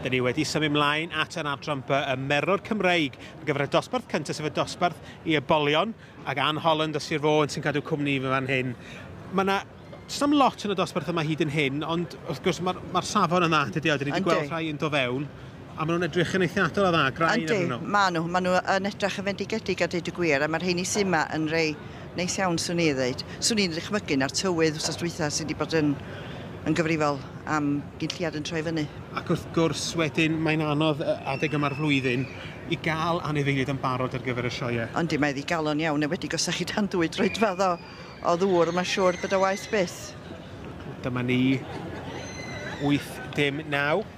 Dyn ni wedi symud ymlaen at yr adran by y merwr Cymreig ar gyfer y dosbarth cyntaf sef y dosbarth i ybolion ac Anne Holland o Sir Fôn sy'n cadw cwmni i fy fan hyn. Mae yna sam lot yn y dosbarth yma hyd yn hyn, ond wrth gwrs mae'r mae safon yna, dydy o, dyn ni wedi gweld rhai yn do fewn. A maen nhw'n edrych yn eithriadol o dda, grain Yndi, nhw. maen nhw. Maen nhw yn edrych yn fendigedig a deud y gwir, a mae'r rheini sy'n yma yn rei neis iawn, swn i ddeud. Swn i'n dychmygu na'r tywydd wrth dwytha sydd wedi bod yn, yn gyfrifol am gynlliad yn troi fyny. Ac wrth gwrs, wedyn, mae'n anodd adeg yma'r flwyddyn i gael anifeiliaid yn barod ar gyfer y sioe. Yndi, mae ddigalon iawn, enwedig os ydych chi dan ddwy droedfedd o, o ddŵr, mae'n siŵr bod o waeth byth. Dyma ni, 8, dim 9.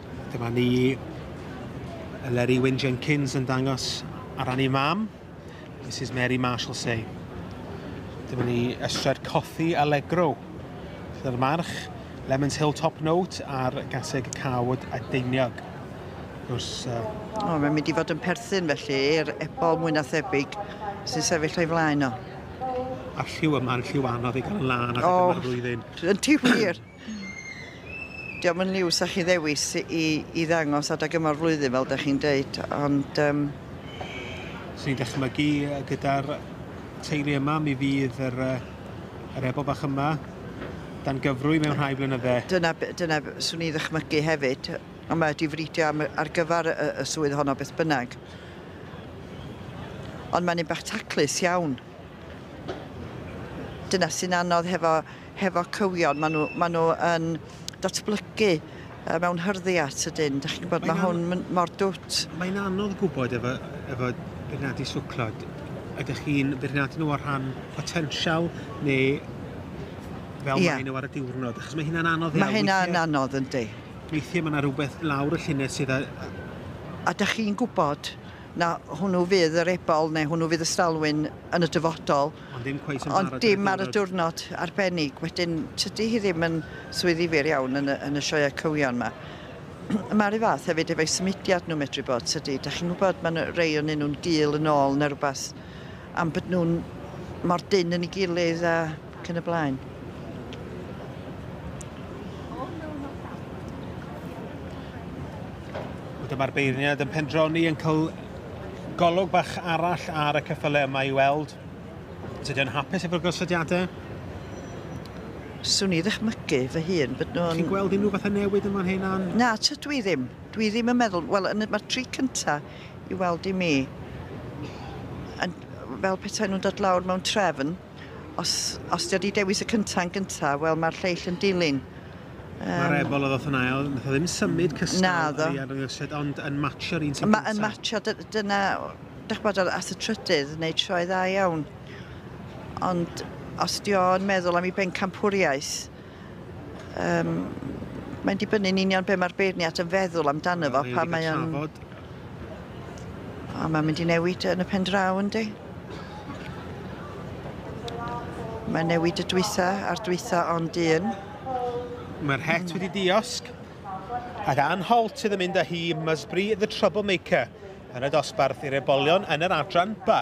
Dyma ni Eleri Wyn Jenkins yn dangos ar ran ei mam, Mrs Mary Marshall Say. Dyma ni ystrad cothi Allegro. Dyna'r march, Lemons Hill Top Note a'r gaseg cawod a deiniog. Gwrs, uh... O, mae'n mynd i fod yn perthyn felly i'r ebol mwy na thebyg sy'n sefyll o'i flaen o. A'r lliw yma, a'r lliw anodd i gael yn lân ar y flwyddyn. Yn ti wir? Dio ddim yn liw 'sa chi ddewis i i ddangos adag yma'r flwyddyn fel 'da chi'n deud ond yym... Swn i'n dychmygu gyda'r teulu yma mi fydd yr yy yr Ebor bach yma dan gyfrwy mewn rhai blynydde. Dyna be- dyna be- swn i ddychmygu hefyd ond mae 'di fridio am y ar gyfar y y swydd honno beth bynnag. Ond mae'n un bach taclus iawn. Dyna sy'n anodd hefo hefo cywion, maen nhw, maen nhw yn datblygu mewn hyrddi at y dyn. Dych chi'n gwybod, mae, mae hwn mor dwt. Mae'n anodd gwybod efo, efo beirniadu siwclod. Ydych chi'n beirniadu nhw o'r rhan potensial neu fel yeah. maen nhw ar y diwrnod? Achos mae hynna'n anodd iawn. Mae hynna'n anodd, yndi. Weithiau mae yna rhywbeth lawr y llunau sydd a... A da chi'n gwybod na hwnnw fydd yr ebol neu hwnnw fydd y stalwyn yn y dyfodol. Ond ddim cweit yn barod ar y diwrnod. Ond dim ar y diwrnod arbennig. Wedyn, tydi hi ddim yn swydd ddifyr iawn yn y, yn y sioeau cywion ma. Mae'r un fath hefyd efo'i symudiad nhw medru bod, tydi? Da chi'n gwybod, mae nhw, rei o'n nhw'n gul yn ôl neu rhywbeth, am bod nhw'n mor dyn yn ei gilydd a cyn y blaen. Dyma'r beirniad yn pendroni yn cael Golwg bach arall ar y ceffylau yma i weld os ydy o'n hapus efo'r gosodiadau. Swn i ddychmygu fy hun bod nhw'n... Ti'n gweld unrhyw fath o newid yn fan hyn, Ann? Na, tydw i ddim. Dwi ddim yn meddwl... Wel, yn y, mae'r tri cynta i weld i mi yn fel petai nhw'n dod lawr mewn trefn. Os, os di o di dewis y cynta yn gynta, wel mae'r lleill yn dilyn. Um, Mae'r ebol oedd oedd yn ail, nath o ddim symud mm, cystal ar ei arddangosiad, ond yn matcho'r un sy'n gyntaf. Yn matcho, dyna, dych bod ar as y trydydd, wneud sioe dda iawn. Ond os di o'n meddwl am ei bencampwriaeth, Yym, mae'n dibynnu'n union be mae'r beirniad yn feddwl amdano fo, pan mae o'n... O, mae'n mynd i newid yn y pen draw, yndi? Mae'n newid y dwytha a'r dwytha ond un. Mae'r het hmm. wedi diosg, a dan Holt sydd yn mynd â hi Musbury the Troublemaker yn y dosbarth i'r ebolion yn yr adran ba.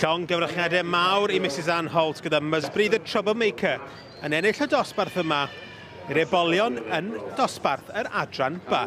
Llong gyfrachniadau mawr i Mrs Ann Holt gyda Musbury the Troublemaker yn ennill y dosbarth yma i'r ebolion yn dosbarth yr adran ba.